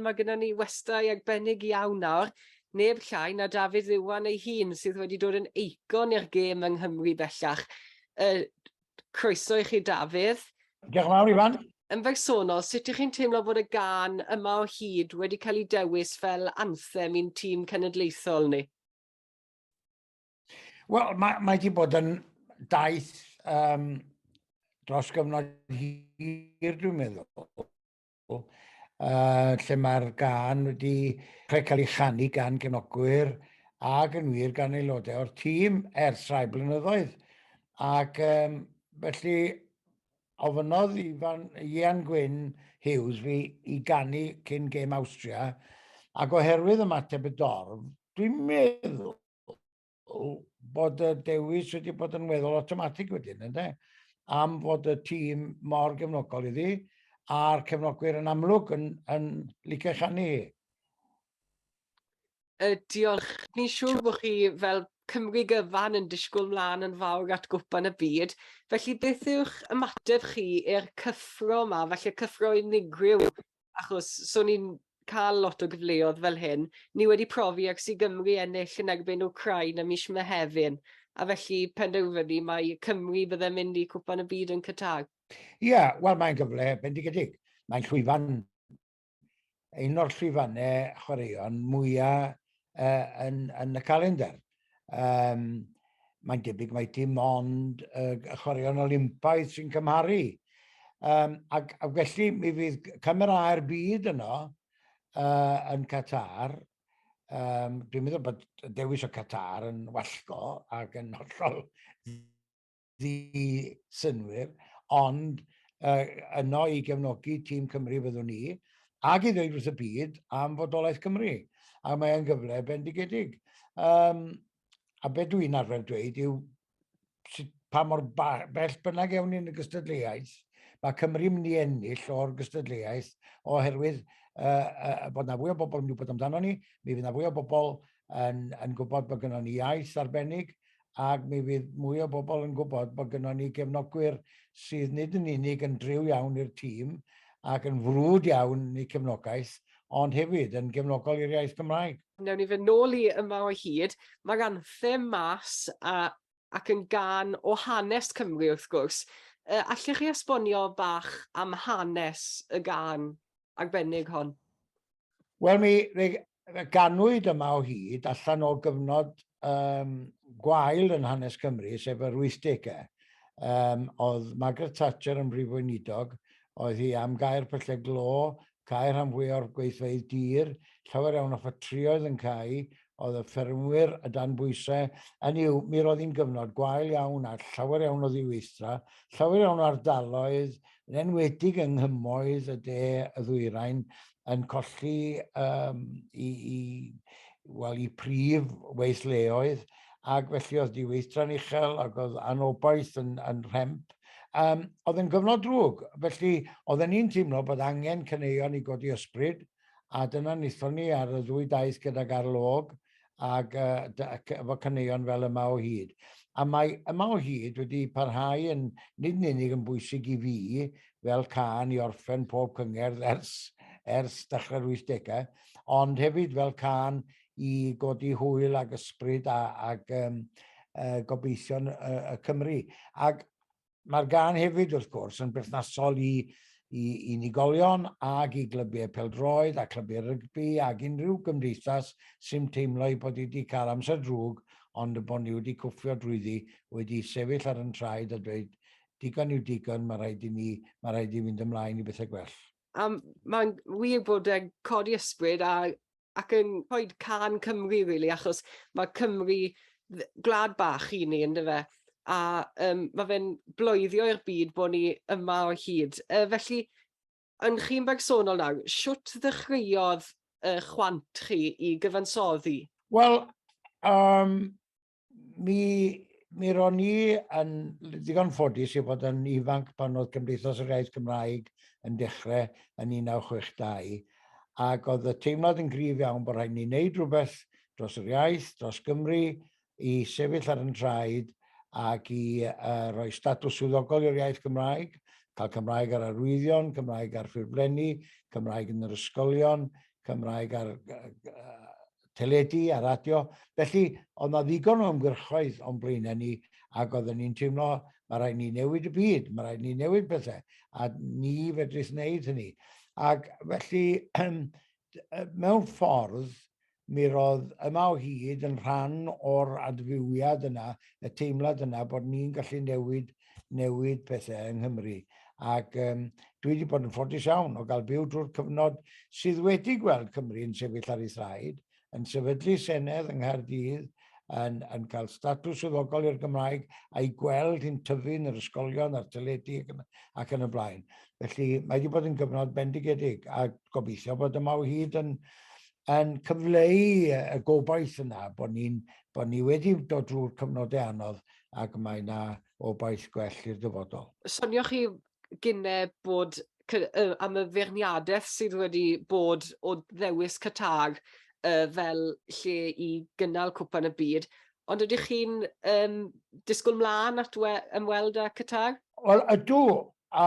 Mae gyda ni westai arbennig iawn nawr, neb llai na Dafydd Iwan ei hun, sydd wedi dod yn eicon i'r gêm yng Nghymru bellach. Uh, croeso i chi, Dafydd. Diolch yn fawr, Iwan. Yn bersonol, sut ych chi'n teimlo bod y gan yma o hyd wedi cael ei dewis fel anthem i'n tîm cenedlaethol ni? Wel, mae, mae wedi bod yn daith um, dros gyfnod hir, dwi'n meddwl. uh, lle mae'r gan wedi cael ei chanu gan genogwyr ac yn wir gan aelodau o'r tîm ers rhai blynyddoedd. Ac um, felly ofynodd i fan Ian Gwyn Hughes fi i ganu cyn gêm Austria ac oherwydd ymateb y dorf, dwi'n meddwl bod y dewis wedi bod yn weddol automatig wedyn, ynddo? Am fod y tîm mor gefnogol iddi, a'r cefnogwyr yn amlwg yn, yn licio chanu hi. Uh, diolch. Ni'n siŵr bod chi fel Cymru gyfan yn disgwyl mlaen yn fawr at gwpan y byd. Felly beth yw'ch ymateb chi i'r cyffro yma, felly cyffro unigryw achos so ni'n cael lot o gyfleodd fel hyn. Ni wedi profi ac sy'n Gymru ennill yn erbyn Ukraine am mis Mehefin, a felly penderfynu mae Cymru byddai'n mynd i Cwpan y Byd yn Qatar. Ie, yeah, wel mae'n gyfle bendigedig. Mae'n llwyfan, un o'r llwyfannau chwaraeon mwyaf uh, yn, yn y calendar. Um, mae'n debyg mae dim ond uh, y chwaraeon Olympaidd sy'n cymharu. Um, ac, ac felly mi fydd camerau'r byd yno uh, yn Qatar. Um, dwi'n meddwl bod dewis o Qatar yn wallgo ac yn hollol ddi-synwyr, ond uh, yno i gefnogi tîm Cymru fyddwn ni, ac i ddweud wrth y byd am fodolaeth Cymru. A mae'n gyfle bendigedig. Um, a beth dwi'n arfer dweud yw sut, pa mor bell bynnag ewn ni'n y gystadleuaeth, mae Cymru'n mynd i ennill o'r gystadleuaeth oherwydd uh, uh, bod yna fwy o bobl yn gwybod amdano ni, mi fydd yna fwy o bobl yn, yn gwybod bod gennym ni iaith arbennig, ac mi fydd mwy o bobl yn gwybod bod gynnon ni gefnogwyr sydd nid yn unig yn driw iawn i'r tîm ac yn frwd iawn yn eu cefnogaeth, ond hefyd yn gefnogol i'r iaith Gymraeg. Newn ni fynd nôl i Yma o Hyd. Mae'r anthem mas a ac yn gân o hanes Cymru wrth gwrs. Yy allech chi esbonio bach am hanes y gân arbennig hon? Wel, mi ganwyd yma o hyd allan o gyfnod um, gwael yn hanes Cymru, sef yr 80au. Um, oedd Margaret Thatcher yn brif weinidog, oedd hi am gair pyllau glo, cael rhan fwy o'r gweithfeydd dir, llawer iawn o ffatrioedd yn cael, oedd y ffermwyr y dan bwysau, yn yw, mi roedd hi'n gyfnod gwael iawn a llawer iawn o ddiweithdra, llawer iawn o ardaloedd, yn enwedig yng nghymoedd y de y ddwyrain, yn colli um, i, i, well, i prif weithleoedd, ac felly oedd diweithdra'n uchel ac oedd anobaith yn, yn rhemp. Um, oedd yn gyfnod drwg, felly oedden ni'n teimlo bod angen cyneuon i godi ysbryd, a dyna nithon ni ar y ddwy daith gydag arlôg ac efo caneuon fel Yma o Hyd. A mae Yma o Hyd wedi parhau yn nid yn unig yn bwysig i fi fel cân i orffen pob cyngerdd ers, ers dechrau'r 80au, ond hefyd fel cân i godi hwyl ac ysbryd a, ac um, uh, gobeithion uh, y Cymru. Ac Mae'r gân hefyd, wrth gwrs, yn berthnasol i, i unigolion ag i glybiau peldroed a clybiau rygbi ag unrhyw gymdeithas sy'n teimlo ei bod wedi cael amser drwg ond y bod ni wedi cwffio drwyddi, wedi sefyll ar yn traed a dweud digon yw digon, mae rhaid i ni, mae rhaid i fynd ymlaen i bethau gwell. A mae'n wir bod e'n codi ysbryd a, ac yn rhoi can Cymru, really, achos mae Cymru gwlad bach i ni, ynddo fe? A um, mae fe'n bloeddio i'r byd bod ni yma o hyd. Uh, felly, yn chi'n bersonol nawr, siwt ddechreuodd uh, chwant chi i gyfansoddi? Wel, um, mi, mi ro'n i yn ddigon ffodus i fod yn ifanc pan oedd Cymdeithas yr Iaith Gymraeg yn dechrau yn 1962, ac oedd y teimlad yn gryf iawn bod rhaid ni wneud rhywbeth dros yr iaith, dros Gymru, i sefyll ar yn traed ac i uh, roi statws swyddogol i'r iaith Gymraeg, cael Cymraeg ar arwyddion, Cymraeg ar ffurflenni, Cymraeg yn yr ysgolion, Cymraeg ar uh, teledu a radio, felly oedd na ddigon o ymgyrchoedd o'n blaenau ni ac oedden ni'n teimlo mae rhaid ni newid y byd, mae rhaid ni newid pethau a ni fedrith wneud hynny. Ac felly, mewn ffordd, mi roedd yma o hyd yn rhan o'r adfywiad yna, y teimlad yna bod ni'n gallu newid newid pethau yng Nghymru. Ac um, dwi wedi bod yn ffodus iawn o gael byw drwy'r cyfnod sydd wedi gweld Cymru yn sefyll ar ei thraed, yn sefydlu Senedd yng Nghaerdydd, yn, yn cael statws swyddogol i'r Gymraeg a'i gweld hi'n tyfu yn yr ysgolion a'r teledu ac yn, ac yn y blaen. Felly mae wedi bod yn gyfnod bendigedig a gobeithio bod yma o hyd yn, yn cyfleu y gobaith yna bod, ni, bod ni wedi dod drwy'r cyfnodau anodd ac mae yna obaith gwell i'r dyfodol. Sonioch chi gynne bod am y feirniadaeth sydd wedi bod o ddewis Catag uh, fel lle i gynnal cwpan y byd, ond ydych chi'n um, disgwyl mlaen at ymweld â Catag? Wel, ydw, a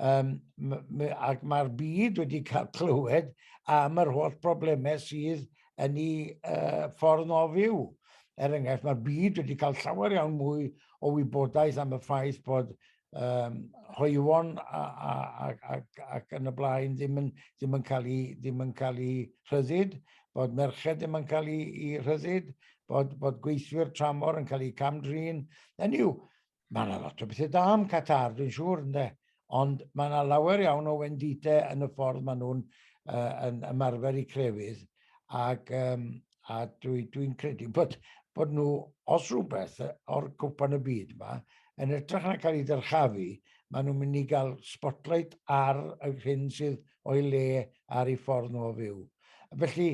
Um, ac mae'r byd wedi cael clywed am yr holl broblemau sydd yn ei uh, ffordd o fyw. Er enghraifft, mae'r byd wedi cael llawer iawn mwy o wybodaeth am y ffaith bod um, hoiwon ac yn y blaen ddim yn, ddim yn cael ei, ddim yn cael ei rhyddid, bod merched ddim yn cael ei, ei rhyddid, bod, bod gweithwyr tramor yn cael eu camdrin. Yn yw, Mae yna lot o bethau da am Qatar, dwi'n siŵr, ynddo. Ond mae yna lawer iawn o wendite yn y ffordd maen nhw'n uh, yn ymarfer i crefydd. Ac, um, a dwi'n dwi, dwi credu bod, bod nhw, os rhywbeth, o'r cwpan y byd yma, yn edrych na cael ei dyrchafu, maen nhw'n mynd i gael spotlight ar y hyn sydd o'i le ar ei ffordd nhw o fyw. Felly,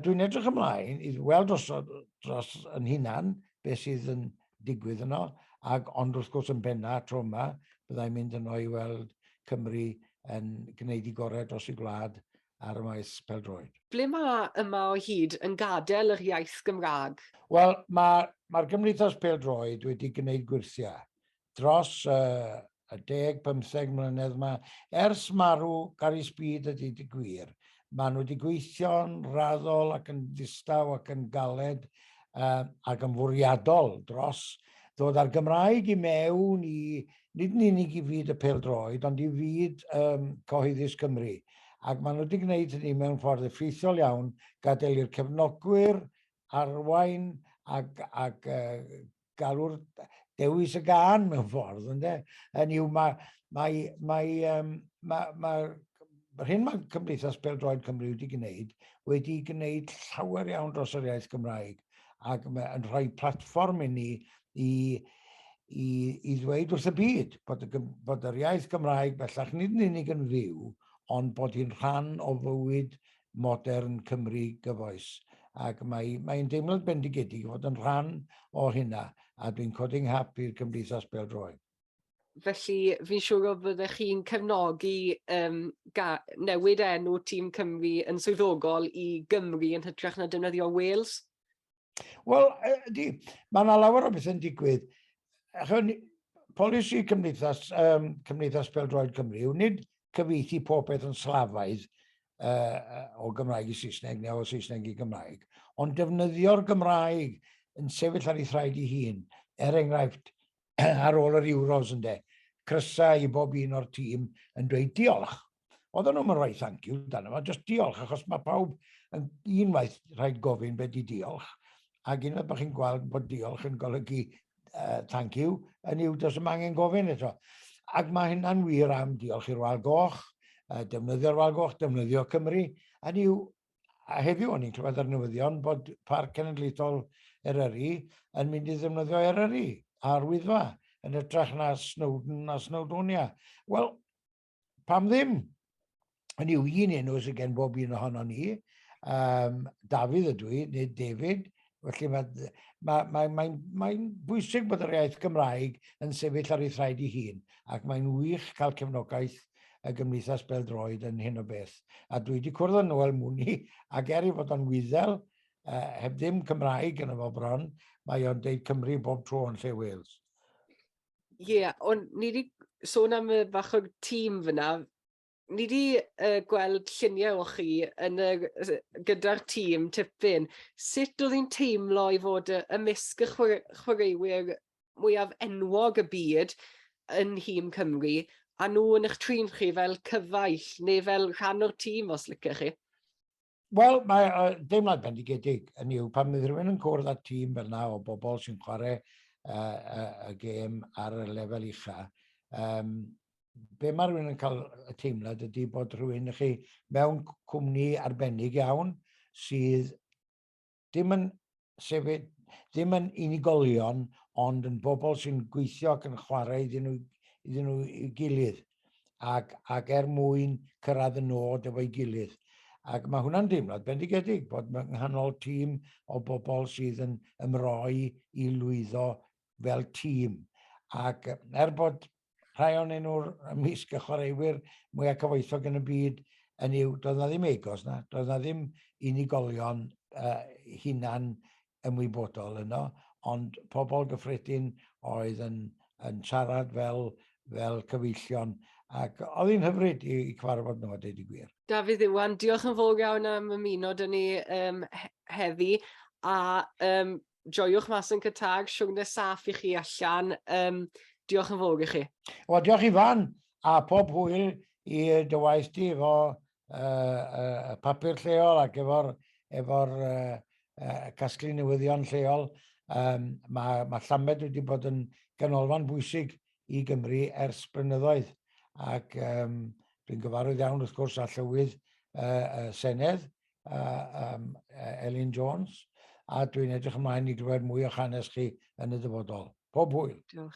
dwi'n edrych ymlaen i weld os dros yn hunan beth sydd yn digwydd yno, ac ond wrth gwrs yn benna tro yma, byddai'n mynd yno i weld Cymru yn gwneud i gorau dros ei gwlad ar y maes pêl-droed. Ble mae yma o hyd yn gadael yr iaith Gymraeg? Wel, mae, mae'r Gymdeithas Pêl-droed wedi gwneud gwyrthiau dros y y deg bymtheg mlynedd ma, ers marw Gary Speed a dweud y gwir, maen nhw wedi gweithio'n raddol ac yn ddistaw ac yn galed uh, ac yn fwriadol dros ddod â'r Gymraeg i mewn i nid yn unig i fyd y peldroed ond i fyd um, cyhoeddus Cymru ac maen nhw wedi gwneud hynny mewn ffordd effeithiol iawn, gadael i'r cefnogwyr arwain ac, ac uh, galw'r dewis y gan mewn ffordd, ynddo. Yn yw, mae, mae, mae, um, mae, mae, mae'r hyn mae Cymdeithas Peldroed Cymru wedi gwneud, wedi gwneud llawer iawn dros yr iaith Gymraeg, ac yn rhoi platfform i ni i, i, i ddweud wrth y byd bod, y, bod yr iaith Gymraeg bellach nid yn unig yn fyw, ond bod hi'n rhan o fywyd modern Cymru gyfoes, ac mae, mae'n deimlad bendigedig i fod yn rhan o hynna, a dwi'n codi nghap i'r Cymdeithas Bêl-droed. Felly, fi'n siŵr o fyddech chi'n cefnogi um, newid enw Tîm Cymru yn swyddogol i Gymru yn hytrach na defnyddio Wales? Wel, ydy, mae yna lawer o bethau'n digwydd. Chwn, polisi Cymdeithas, um, Cymdeithas Peldroed Cymru yw nid cyfeithi pob peth yn slafaidd uh, o Gymraeg i Saesneg neu o Saesneg i Gymraeg, ond defnyddio'r Gymraeg yn sefyll ar ei thraed ei hun, er enghraifft ar ôl yr Euros ynde, crysau i bob un o'r tîm yn dweud diolch. Oedden nhw'n rhoi thank you dan yma, jyst diolch, achos mae pawb yn unwaith rhaid gofyn beth di diolch, ac unwaith bod chi'n gweld bod diolch yn golygu uh, thank you, yn yw does yma angen gofyn eto. Ac mae hynna'n wir am diolch i'r Wal Goch, uh, defnyddio'r Wal Goch, defnyddio Cymru, yn yw, a heddiw o'n i'n clywed ar newyddion bod Parc Cenedlaethol Eryri yn mynd i ddefnyddio Eryri a'r Wyddfa yn ytrach na Snowdon a Snowdonia. Wel, pam ddim? Hynny yw, un enw sydd gen bob un ohono ni, um, Dafydd ydw i, neu David, felly mae'n ma, ma, ma, ma bwysig bod yr iaith Gymraeg yn sefyll ar ei thraed ei hun, ac mae'n wych cael cefnogaeth y Gymdeithas Beldroed yn hyn o beth. A dwi wedi cwrdd â Noel Mwni, ac er i fod o'n wyddel, uh, heb ddim Cymraeg yn efo bron, mae o'n deud Cymru bob tro yn lle Wales. Ie, ond ni wedi sôn am y bach o tîm fyna. Ni wedi uh, gweld lluniau o chi yn y, gyda'r tîm tipyn. Sut oedd hi'n teimlo i fod y, y misg y chwaraewyr mwyaf enwog y byd yn nhîm Cymru, a nhw yn eich trin chi fel cyfaill neu fel rhan o'r tîm os lycech chi? Wel, mae uh, deimlad bendigedig yn yw pan fydd rhywun yn cwrdd â tîm fel yna o bobl sy'n chwarae uh, uh, y gêm ar y lefel ucha. Um, be mae rhywun yn cael y teimlad ydy bod rhywun chi mewn cwmni arbennig iawn sydd dim yn sefyd, ddim yn unigolion, ond yn bobl sy'n gweithio ac yn chwarae iddyn nhw, iddyn nhw i gilydd, ac, ac er mwyn cyrraedd y nod efo'i gilydd. Ac mae hwnna'n deimlad bendigedig bod yng nghanol tîm o bobl sydd yn ymroi i lwyddo fel tîm. Ac er bod rhai o'n nhw'r ymysg y chwaraewyr mwyaf cyfoethog yn y byd yn yw, doedd na ddim egos na, doedd na ddim unigolion uh, hunan ymwybodol yno, ond pobl gyffredin oedd yn, yn siarad fel, fel cyfeillion ac oedd hi'n hyfryd i, i cyfarfod nhw a dweud i gwir. Dafydd Iwan, diolch yn fawr iawn am ymuno dyn ni um, heddi a um, joiwch mas yn cytag, siwgnes saff i chi allan. Um, diolch yn fawr i chi. O, diolch Ifan, a pob hwyl i dywaith di efo uh, uh, papur lleol ac efo'r efo uh, uh, casglu newyddion lleol. Um, mae, mae Llamed wedi bod yn ganolfan bwysig i Gymru ers blynyddoedd ac um, dwi'n gyfarwydd iawn wrth gwrs a llywydd uh, uh, Senedd uh, um, Elin Jones, a dwi'n edrych ymlaen i glywed mwy o'ch hanes chi yn y dyfodol. Pob hwyl. Diolch.